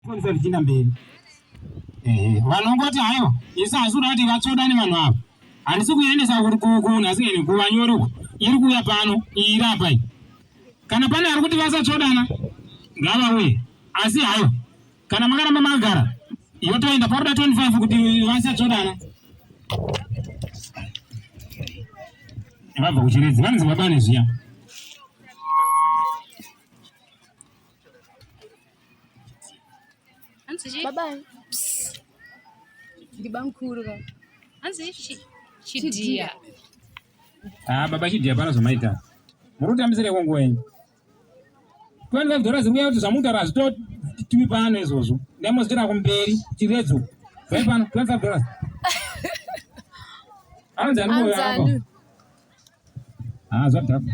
Kufundisa zvichienda mberi. Ehe, vanongoti hayo, isu asi kuda kuti vatsoda nevanhu ava. Handisi kuendesa kuti kuku nhasi ngene kuva nyori uko. Iri kuuya pano, iyi iri apa iyi. Kana pane ari kuti vasatsodana, ngavauye. Asi hayo, kana makaramba magara, yotoenda pakuda 25 kuti vasatsodana. Vabva kuchiredzi, vanonzi vabane zviya. Hanzi chii? Baba. Ndibamkuru ka. Hanzi chii? Chidia. Ah, baba chidia pana zvamaita. Muri kutambisira ikwo nguva yenyu. 25 dollars ziri kuya kuti zvamutaura hazvitotimi pano izvozvo. Ndai mozotoenda kumberi chiredzo. Zai pano 25 dollars. Hanzi anouya apa. Ah, zvadhakwa.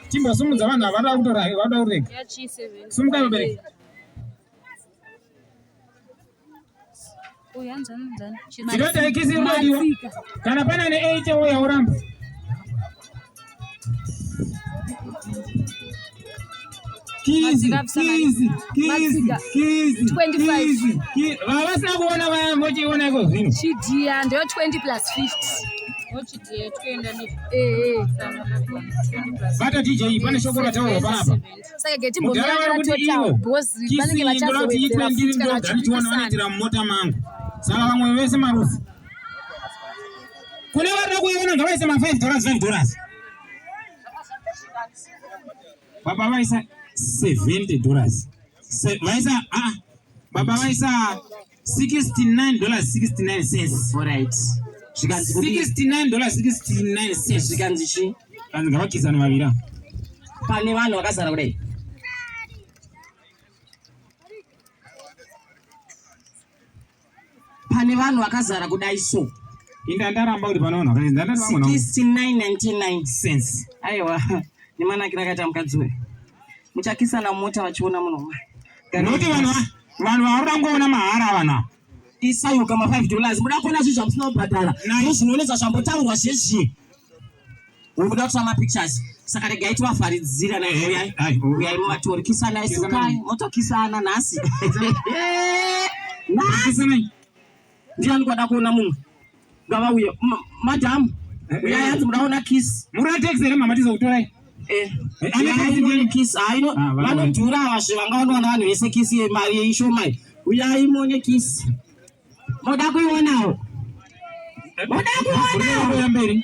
Timbosumudza vanhu ava vanoda kutora vanoda kurega. Sumuka vabereki. Ndinoda ikisi mbodiwa. Kana pana ne 8 wo yauramba. Kizi, kizi, kizi, kizi, 25. Vavasina kuona vaya vochiona iko zvino. Chidia ndoyo 20 plus 50. bata dj pane shoko rataurwa panapa mudhara vari kuti ivo kisi ndoda kuti itwe ndiri ndoda ndichiona vanoitira mumota mangu saka vamwe vese marufu kune varida kuiona ngavaise ma 5 dollars 5 dollars baba vaisa 70 dollars vaisa a ah, baba vaisa 69 dollars 69 cents alright zvikanzi 69 dollars 69 cents zvikanzi chi kanzi ngavakisana vavira pane vanhu vakazara kudai pane vanhu vakazara kudai so inda ndaramba kuti pane vanhu vakadai ndandati vamwe 69 99 cents aiwa nemanakira akaita mukadzi uyu muchakisana mota vachiona munhu nokuti vanhu vanhu vauri vangoona mahara vanhu ava isayuka ma 5 dollars muda kuona zvinhu zvamusina kubhadhara nayo zvinonetsa zvambotaurwa zvezvi ukuda kutora mapictures saka regai tivafaridzira nauyai muvatori kisanai sukai motokisana nhasi Ndiani kwada kuona mumwe? Ngavauye. Madam, eh, uyai eh. hanzi mudaona kiss. Mura taxi here mama tizokutorai? Eh. eh kiss. Hayi no. Ah, Vanodhura ava zve vangaona vanhu vese kiss yemari yeishoma. Uyai muone kiss. Moda kuionawo. Moda kuionawo.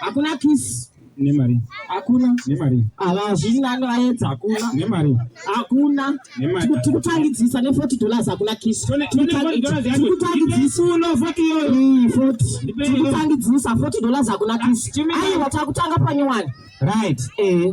hakuna kisi nemari hakuna nemari havazvina anovaedza hakuna nemari hakuna tikutangidzisa ne40 dollars hakuna kisi tikutangidzisa uno 40 iyoyo 40 tikutangidzisa 40 dollars hakuna kisi aiwa takutanga panyowani right eh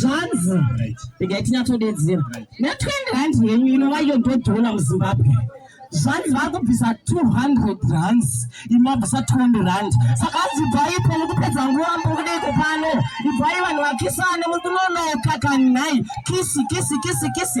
zvanzi regai tinyatsodedzera ne20 rand yenyu inova iyo ndodhola muzimbabwe zvanzi vari kubvisa 200 rands imabvisa 20 rand saka anzi ibvai ipo mukupedza nguva mukudiko pano ibvai vanhu vakisane mukunonoka kanhai kisi kisi kisi kisi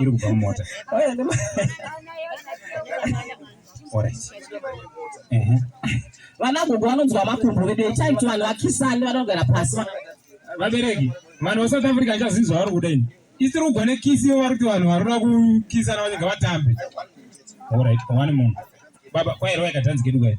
iri kubva mumota vanagogo vanonzwa makumbo vedu itai kuti vanhu vakisani vanogara pasi vabereki vanhu vasouth africa achazinzwa vari kuda ini isiri kugwa nekisi ivo vari kuti vanhu varikuda kukisana vanenge vatambe orit one munhu baba kwairwa yakatanzi kedu kwairi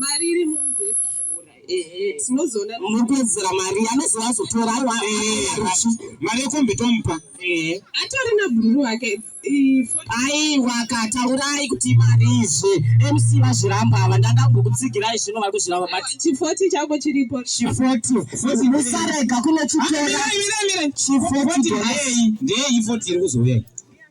mari iri mubheki tinozoona mukuedzera mari anozova azotora aiwa mari yekombi tomupa atori nabhururu wake aiwa kataurai kuti mari izvi mc vazviramba ava ndanga kukutsigirai zvino vari kuzviramba but chifoti chako chiripo chifoti foti musarega kunochitora chifoti ndeyei foti iri kuzouya